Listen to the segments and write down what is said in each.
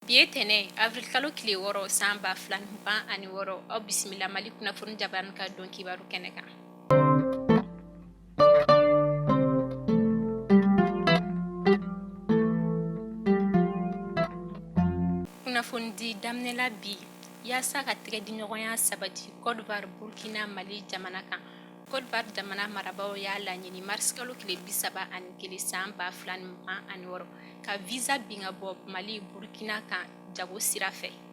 bi ye tɛnɛ avril kalo tile wɔɔrɔ san ba fila ni mugan ani wɔɔrɔ aw bisimila mali kunnafoni jabarani ka don kibaru kɛnɛ kan Kunnafoni di daminɛla bi yaasa ka tɛgɛ diɲɔgɔnya sabati kɔdiwari burukina mali jamana kan kɔdiwari jamana marabaaw y'a laɲini marisikalo tile bi saba ani kelen san ba fila ni mugan ani wɔɔrɔ ka visa bin ka bɔ mali burukina kan jago sira fɛ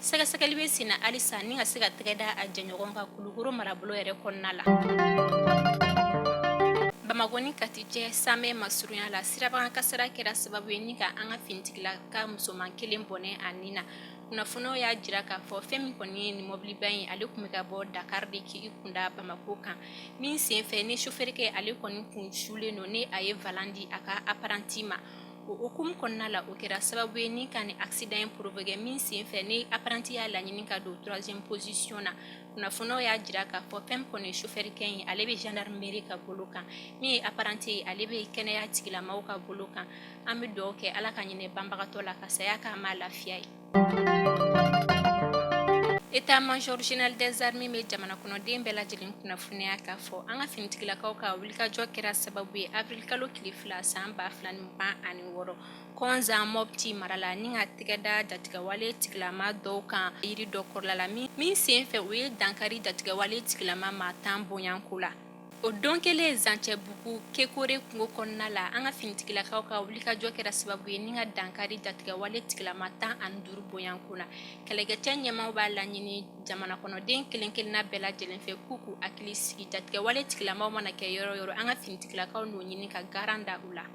Sɛgɛsɛgɛli bɛ sen na halisa ni ka se ka tɛgɛ da a jɛɲɔgɔn kan Kulukoro marabolo yɛrɛ kɔnɔna la. Bamakɔ ni Kati cɛ Samɛ masurunya la, sirabakan kasara kɛra sababu ye ni ka an ka finitigilaka musoman kelen bɔnɛ a ni na. Kunnafoniw y'a jira k'a fɔ fɛn min kɔni ye nin mɔbiliba in ye, ale tun bɛ ka bɔ Dakar de k'i kun da Bamakɔ kan. Min senfɛ ni sofɛrikɛ ale kɔni kun sulen don ni a ye volant di a ka apprenti ma. o hukumu kɔnɔna la o kɛra sababu ye ni ka ni accident in provoquer min sen fɛ ni apprenti y'a laɲini ka don troisième position na kunnafoniw y'a jira k'a fɔ fɛn min kɔni ye chauffeur kɛ in ye ale bɛ gendarmerie ka bolo kan min ye apprenti ye ale bɛ kɛnɛya tigilamɔgɔw ka bolo kan an bɛ dugawu kɛ Ala ka hinɛ banbagatɔ la ka saya k'a ma lafiya ye État-major général des armées bɛ jamana kɔnɔden bɛɛ lajɛlen kunnafoniya k'a fɔ an ka finitigilakaw ka wulikajɔ kɛra sababu ye avril kalo tile fila san ba fila ni mugan ani wɔɔrɔ kɔnzan mɔpti mara la ni ka tɛgɛ da jatigɛwale tigilama dɔw kan yiri dɔ kɔrɔla la min senfɛ u ye dankari jatigɛwale tigilama maa tan bonyanko la O don kelen zancɛbugu kekore kungo kɔnɔna la an ka finitigilakaw ka wulikajɔ kɛra sababu ye ni ka dankari jatigɛwale tigilama tan ani duuru bonyanko la kɛlɛkɛcɛ ɲɛmaaw b'a laɲini jamana kɔnɔden kelen-kelenna bɛɛ lajɛlen fɛ k'u k'u hakili sigi jatigɛwale tigilamaw mana kɛ yɔrɔ yɔrɔ an ka finitigilakaw n'o ɲini ka garan da u la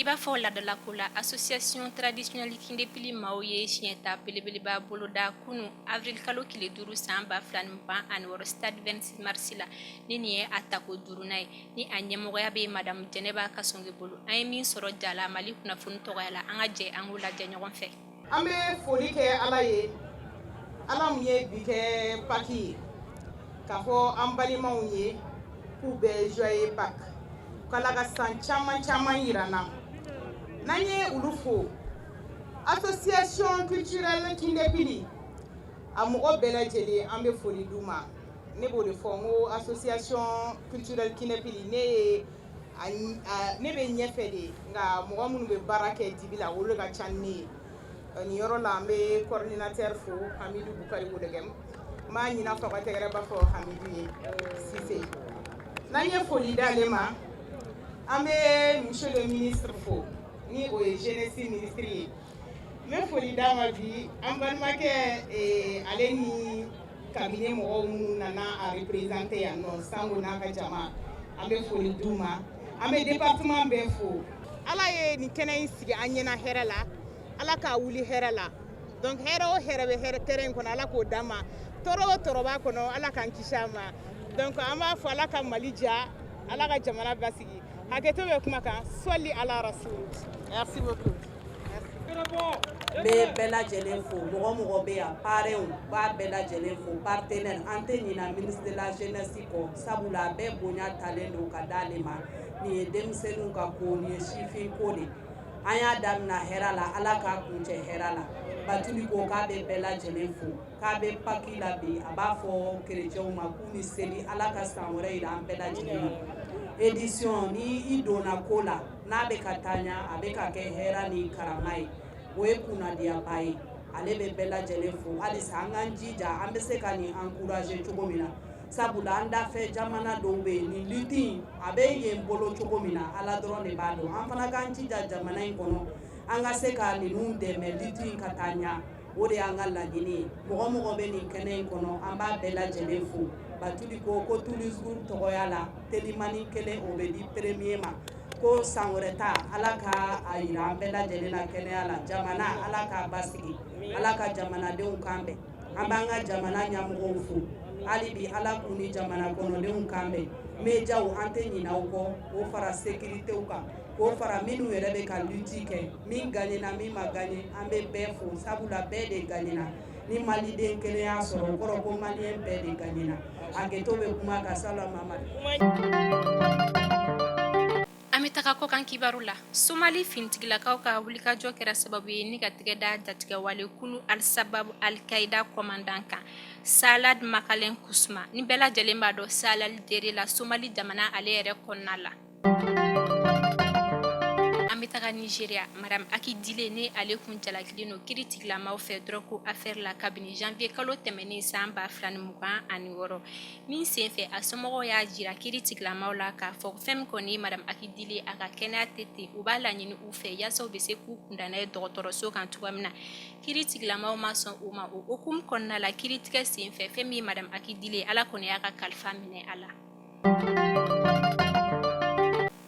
I b'a fɔ ladala ko la association traditionnelle kindepili maaw ye siɲɛta belebeleba boloda kunun avril kalo tile duuru san ba fila ni mugan ani wɔɔrɔ stade vingt-six mars la ni nin ye a tako duurunan ye ni a ɲɛmɔgɔya bɛ madame jɛnɛba kasɔnge bolo an ye min sɔrɔ ja la mali kunnafoni tɔgɔya la an ka jɛ an k'o lajɛ ɲɔgɔn fɛ an bɛ foli kɛ ala ye ala min ye bi kɛ pâques ye k'a fɔ an balimaw ye k'u bɛɛ joyeux pâques k'ala ka san caman caman jira an na n'an ye olu fo association culturelle kindepili a mɔgɔ bɛɛ lajɛlen an bɛ foli d'u ma ne b'o de fɔ n ko association culturelle kindepili ne ye ayi ne bɛ ɲɛfɛ de nka mɔgɔ minnu bɛ baara kɛ dibi la olu ka ca ne ye nin yɔrɔ la an bɛ coordinateur fo hamidu bukari wologɛm n b'a ɲini a fɛ a ka tɛgɛrɛba fɔ hamidu ye sise n'an ye foli d'ale ma an bɛ monsieur le ministre fo ni o ye jeunesse ministre ye n bɛ foli d'a ma bi an balimakɛ ale ni cabinet mɔgɔw minnu nana a représenter yan nɔ sango n'a ka jama an bɛ foli d'u ma an bɛ département bɛɛ fo ala ye nin kɛnɛ in sigi an ɲɛna hɛrɛ la ala k'a wuli hɛrɛ la donc hɛrɛ o hɛrɛ bɛ hɛrɛ terrain in kɔnɔ ala k'o d'an ma tɔɔrɔ o tɔɔrɔ b'a kɔnɔ ala k'an kisi a ma donc an b'a fɔ ala ka mali diya ala ka jamana basigi hakɛto bɛ kuma kan sɔli ala rasul merci beaucoup N bɛ bɛɛ lajɛlen fo mɔgɔ mɔgɔ bɛ yan parrains n b'a bɛɛ lajɛlen fo partenaires an tɛ ɲina ministre de la jeunesse kɔ sabula a bɛɛ bonya talen don ka d'ale ma nin ye denmisɛnninw ka ko nin ye sifin ko de an y'a daminɛ hɛrɛ la Ala k'a kuncɛ hɛrɛ la Batuli ko k'a bɛ bɛɛ lajɛlen fo k'a bɛ Paki la bi a b'a fɔ chrétiens ma k'u ni seli Ala ka san wɛrɛ yira an bɛɛ lajɛlen na édition ni i donna ko la n'a bɛ ka taa ɲɛ a bɛ ka kɛ hɛrɛ ni karama ye o ye kunnadiyaba ye ale bɛ bɛɛ lajɛlen fo halisa an k'an jija an bɛ se ka nin encourager cogo min na sabula an dafɛ jamana dɔw bɛ yen nin lutte in a bɛ yen bolo cogo min na Ala dɔrɔn de b'a dɔn an fana k'an jija jamana in kɔnɔ an ka se ka ninnu dɛmɛ lutte in ka taa ɲɛ o de y'an ka laɲini ye mɔgɔ o mɔgɔ bɛ nin kɛnɛ in kɔnɔ an b'a bɛɛ lajɛlen fo batuli ko ko turisuru tɔgɔya la telimani kelen o bɛ di peremiye ma ko san wɛrɛ ta ala ka a yira an bɛɛ lajɛlen na kɛnɛya la jamana ala k'a basigi ala ka jamanadenw kan bɛn an b'an ka jamana ɲamɔgɔw fo hali bi ala k'u ni jamana kɔnɔdenw kan bɛn mediyaw an tɛ ɲinɛ u kɔ o fara sekiritew kan k'o fara minnu yɛrɛ bɛ ka luti kɛ min gaɲena min ma gaɲe an bɛ bɛɛ fo sabula bɛɛ de gaɲena ni maliden kelen y'a sɔrɔ o kɔrɔ ko maliyɛn bɛɛ de gaɲena hakɛto bɛ kuma kan sala mamadu an bɛ taga kɔkan kibaru la somali finitigilakaw ka wulikajɔ kɛra sababu ye ni ka tɛgɛ da jatigɛwale kulu alisababu alikayida kɔmandan kan salad makalen kusuma ni bɛɛ lajɛlen b'a dɔn salad dere la somali jamana ale yɛrɛ kɔnɔna la An bɛ taga Nizeriya madamu Akidile ni ale kun jalakilen don kiritigɛlamaw fɛ dɔrɔgu afɛri la kabini zanwiye kalo tɛmɛnen san ba fila ni mugan ani wɔɔrɔ min senfɛ a somɔgɔw y'a jira kiritigɛlamaw la k'a fɔ fɛn min kɔni ye madamu Akidile a ka kɛnɛya tɛ ten u b'a laɲini u fɛ yaasa u bɛ se k'u kunda n'a ye dɔgɔtɔrɔso kan cogoya min na kiritigɛlamaw ma sɔn o ma o hukumu kɔnɔna la kiritigɛ senfɛ fɛn min ye madamu Akidile ala kɔni y'a ka kalifa minɛ a la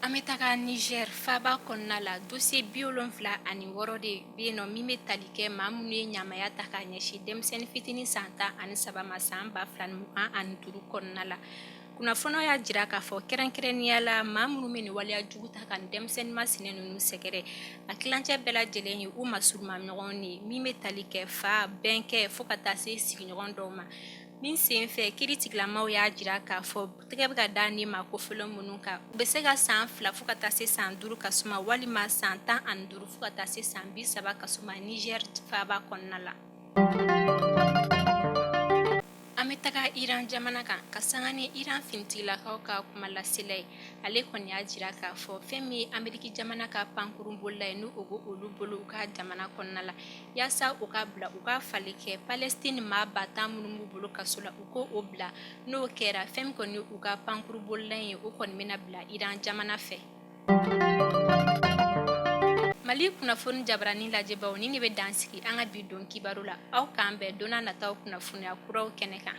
An bɛ taga Niger faba kɔnɔna la dossier bi wolonfila ani wɔɔrɔ de bɛ yen nɔ min bɛ tali kɛ maa minnu ye ɲamaya ta k'a ɲɛsin denmisɛnnin fitinin san tan ani saba ma san ba fila mugan ani duuru kɔnɔna la kunnafoni y'a jira k'a fɔ kɛrɛnkɛrɛnnenya la maa minnu bɛ nin waleya jugu ta ka nin denmisɛnnin masina ninnu sɛgɛrɛ a kilancɛ bɛɛ lajɛlen ye u masurunma ɲɔgɔn ye min bɛ tali kɛ fa bɛnkɛ fo ka taa se sigiɲɔgɔn dɔw ma Min senfɛ kiritigɛlamaw y'a jira k'a fɔ tɛgɛ bɛ ka da nin maa kofɔlen minnu kan u bɛ se ka san fila fo ka taa se san duuru ka suma walima san tan ani duuru fo ka taa se san bi saba ka suma Niger faba kɔnɔna la an bɛ taga iran jamana kan ka sanga ni iran finitigilakaw ka kumalasela ye ale kɔni y'a jira k'a fɔ fɛn min ye ameriki jamana ka pankurun bolila ye n'u ko o b'olu bolo u ka jamana kɔnɔna la yaasa u k'a bila u k'a fali kɛ palestine maa ba tan minnu b'u bolo kaso la u ko o bila n'o kɛra fɛn min kɔni u ka pankuru bolila ye o kɔni bɛna bila iran jamana fɛ mali kunnafoni jabarani lajɛbaw ni ne bɛ dansigi an ka bi don kibaru la aw k'an bɛn don nataw kunnafoniya kuraw kɛnɛ kan